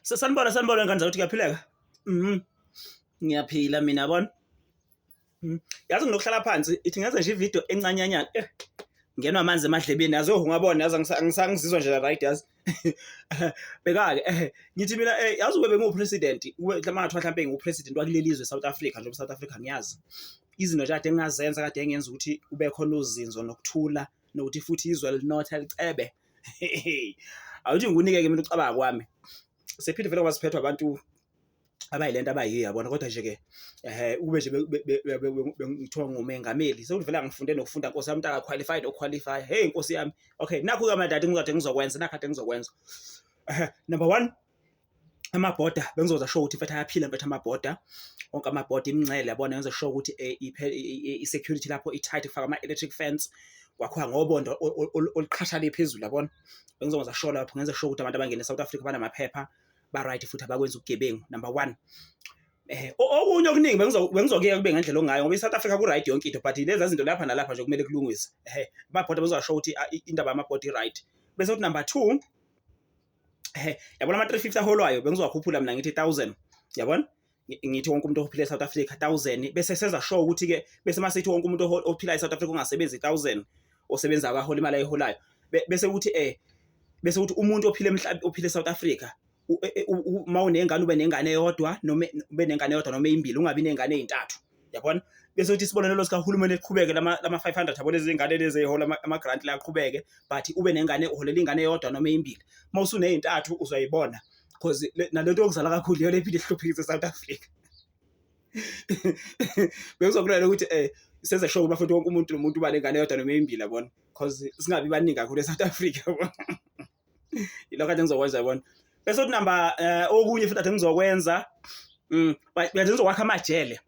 Sanibona sanibona ngane zakuthi kuyaphileka. Mhm. Ngiyaphila mina yabona. Mhm. Yazi nginokuhlala phansi ithi ngenze nje ivideo encanyanyana. Eh. Ngenwa amanzi emadlebeni yazi oh ungabona yazi angisangizizwa nje right yazi. Bekake eh ngithi mina eh yazi ube bengu president ube mhlawumbe ngathiwa mhlawumbe ngu president wakuleli izwe South Africa njengoba South Africa ngiyazi. Izinto nje kade engazenza kade engenza ukuthi kube khona uzinzo nokuthula nokuthi futhi izwe linotha licebe. awuthi ngikunike-ke mina ucabanga kwami sephinde vele ngoba siphethwa abantu abayilento abayiyo yabona kodwa nje-ke um ukube nje ngithiwa ngumengameli sekuthi vele angifunde nokufunda nkosi yami mntaka qualified oqualify heyi nkosi yami okay nakhu-ke amadadi ngizade ngizokwenza nakhu ade ngizokwenza number one amaboda bengizoza show ukuthi mfethu ayaphila mfethu amaboda onke amaboda imingcele yabona yenza show ukuthi eh, i-security lapho i-tight kufaka ama-electric fence kwakhiwa ngobondo oluqhashale phezulu yabona bengizoza show lapho ngenza show ukuthi abantu abangene e-south africa banamaphepha ba-right futhi abakwenza ubugebengu number one Eh, okunye okuningi bengizokuyeka kube ngendlela ongayo ngoba i-south africa ku-right yonke into but lezi zinto lapha nalapha nje kumele kulungiswe ehe babhoda bezosho ukuthi indaba yamabhodi i-right bese kuthi number two ehe yabona ama 350 aholwayo bengizowakhuphula mina ngithi 1000 yabona ngithi wonke umuntu ophila eSouth Africa 1000 bese senza show ukuthi ke bese masithi wonke umuntu ophila eSouth Africa ungasebenzi 1000 osebenza akahola imali ayiholayo bese ukuthi eh bese ukuthi umuntu ophila emhlabeni ophila eSouth Africa e, e, uma unengane ube nengane eyodwa noma ube nengane eyodwa noma ezimbili ungabi nengane ezintathu yabona bese uthi isibonelelo sikahulumeni eqhubeke lama lama 500 yabona izingane lezi ehola ama grant la aqhubeke but ube nengane uholela ingane eyodwa noma eyimbili mawusu nezintathu uzoyibona because nalento yokuzala kakhulu yona iphinde ihluphekise South Africa bekuzokulala ukuthi eh senze sure ukuba futhi wonke umuntu nomuntu uba nengane yodwa noma eyimbili yabona because singabi baningi kakhulu eSouth Africa yabona ilokho ade ngizokwenza yabona bese uthi namba eh, okunye futhi ade ngizokwenza mm ade ngizokwakha amajele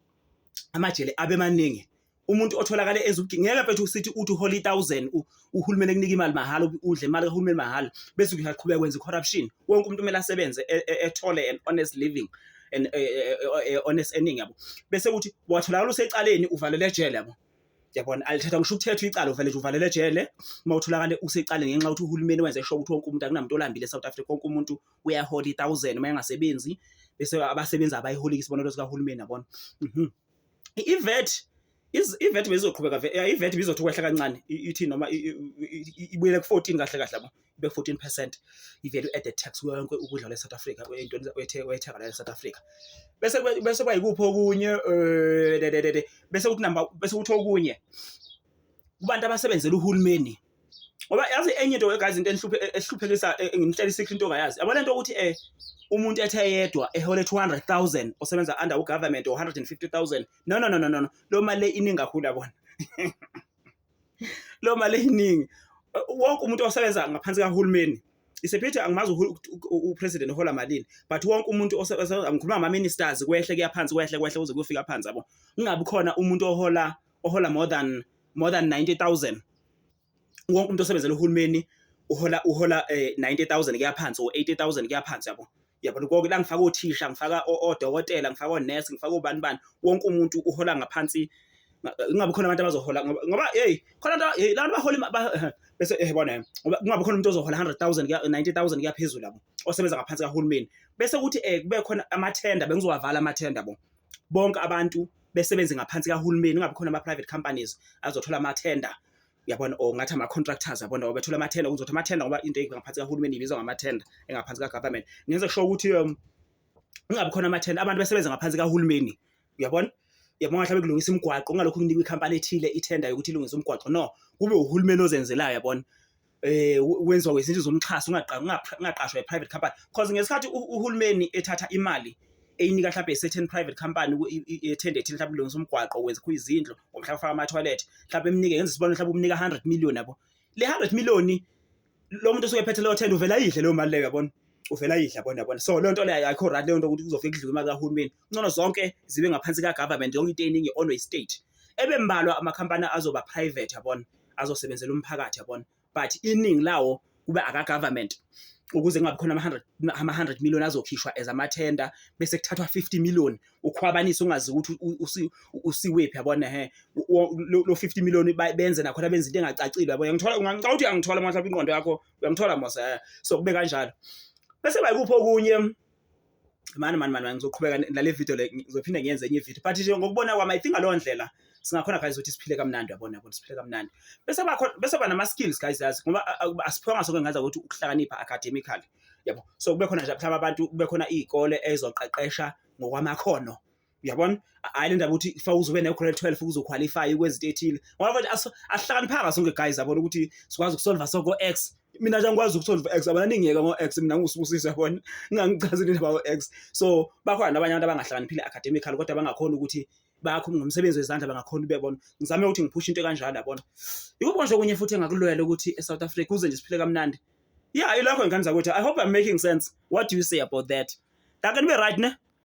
amajele abe maningi umuntu otholakale ezugingeka bethu sithi uthi uhole 1000 uhulumeni ekunika imali mahhala udle imali kahulumeni mahhala bese uyaqhubeka kwenza corruption wonke umuntu kumele asebenze e, e, ethole an honest living and e, honest earning yabo bese kuthi watholakala usecaleni uvalele ejele yabo yabona alithetha ngisho ukuthethwa icala uvele nje uvalele ejele uma utholakale usecale ngenxa yokuthi uhulumeni wenze sho ukuthi wonke umuntu akunamuntu olambile eSouth Africa wonke umuntu uyahola i-thousand uma engasebenzi bese abasebenzi abayiholiki isibonelo sikahulumeni yabona mhm. ivet ivet bezizoqhubeka ivet bizothi ukwehla kancane ithi noma ibuyele ku-14 kahle kahle yabo ibe 14 percent i-value added tax kuyo yonke ukudla kwale South Africa kwentoni oyethenga la South Africa bese bese kwayikuphi okunye eh, bese kuthi number bese kuthi okunye kubantu abasebenzela uhulumeni ngoba yazi enye into guys into enhluphe ehluphekisa eh, nginhleli sikho into ongayazi yabo lento ukuthi eh umuntu ethe yedwa ehole 200000 osebenza under u government or 150000 no no no no no lo mali iningi kakhulu yabona lo mali eyiningi wonke umuntu osebenza ngaphansi kahulumeni isephethe angimazi upresident uhola malini but wonke umuntu ngikhuluma ngama-ministers kwehle kuyaphansi kwehle kwehle kuze kuyofika phansi yabo kungabi khona umuntu ohola ohola more than more than 90000 wonke umuntu osebenzela uhulumeni uhola uhola 90000 eh, kuyaphansi or 80000 kuyaphansi yabo yabona konke la ngifaka othisha ngifaka odokotela ngifaka onurse ngifaka ubani bani wonke umuntu uhola ngaphansi kungabi khona abantu abazohola ngoba hey khona nto hey abantu bahola bese eh bona ngoba kungabi khona umuntu ozohola 100000 kuya 90000 kuya phezulu labo osebenza ngaphansi kahulumeni bese kuthi eh kube khona amathenda bengizowavala amathenda bo bonke abantu besebenze ngaphansi kahulumeni kungabi khona ama private companies azothola amathenda yabona or ngathi ama-contractors yabona obethula amathenda kuzothi amathenda ngoba into engaphansi kahulumeni ibizwa ngamathenda engaphansi ka-government ngenze kusho ukuthi um kungabi khona amathenda abantu besebenza ngaphansi kahulumeni uyabona yabona mhlawumbe kulungisa imigwaqo ungalokhu kunikwa ikhampani ethile ithenda yokuthi ilungise umgwaqo no kube uhulumeni ozenzelayo yabona eh wenziwa wezinto zomxhaso ungaqashwa i-private company because ngesikhathi uhulumeni ethatha imali eyinika mhlawumbe certain private company ethende ethile mhlawumbe ulungisa umgwaqo wenza kho izindlu or mhlawumbe ufaka ama-toilet mhlawumbe emnike ngenza isibonelo mhlawumbe umnika 100 million yabo le 100 million lo muntu osuke ephethe leyo tender uvela yidle leyo mali leyo yabona uvela yidle yabona yabona so leyo nto leyo ayikho right leyo nto ukuthi kuzofika kudliwe imali kahulumeni kuncono zonke zibe ngaphansi ka-government yonke into eningi onwe state ebe mbalwa amakhampani azoba private yabona azosebenzela umphakathi yabona but iningi lawo kube aka government ukuze kungabi khona ama-100 ama-100 million azokhishwa as amathenda bese kuthathwa 50 million ukhwabanise ungazi ukuthi u- usi- u- usiwephi yabona he wo- lo lo 50 million ba- benze nakhona benze into engacacile yabona ngithola ngicabanga ukuthi angithola manje lapha ingqondo yakho uyangithola mose eh. so kube kanjalo bese bayikuphi okunye mani mani mani ngizoqhubeka nale video le ngizophinde ngiyenze enye ivideo but nje ngokubona kwami i think ngaleyo ndlela singakhona guys ukuthi siphile kamnandi yabona ukuthi siphile kamnandi bese bakhona bese ba nama skills guys yazi ngoba asiphonga sonke ngaza ukuthi ukuhlakanipha academically yabo so kube khona nje mhlawumbe abantu kube khona izikole ezoqeqesha ngokwamakhono uyabona hayi le ndaba ukuthi fa uzobe ne-grade 12 ukuze uqualifye kwezinto ethile ngoba manje asihlakaniphanga sonke guys yabona ukuthi sikwazi ukusolva soko x mina nje angikwazi ukusolva x abana ningiyeka ngo-x mina ngusibusisi yabona ngingangichazile indaba o-x so bakhona abanye abantu abangahlakaniphile academical kodwa bangakhona ukuthi bakho ngomsebenzi wezandla bangakhona ubebona ngizame ukuthi ngiphushe into kanjalo yabona yikubona nje okunye futhi engakulwela ukuthi e-south africa kuze nje siphile kamnandi yeah ilokho ingane zakwethu i hope i'm making sense what do you say about that ngake nibe right ne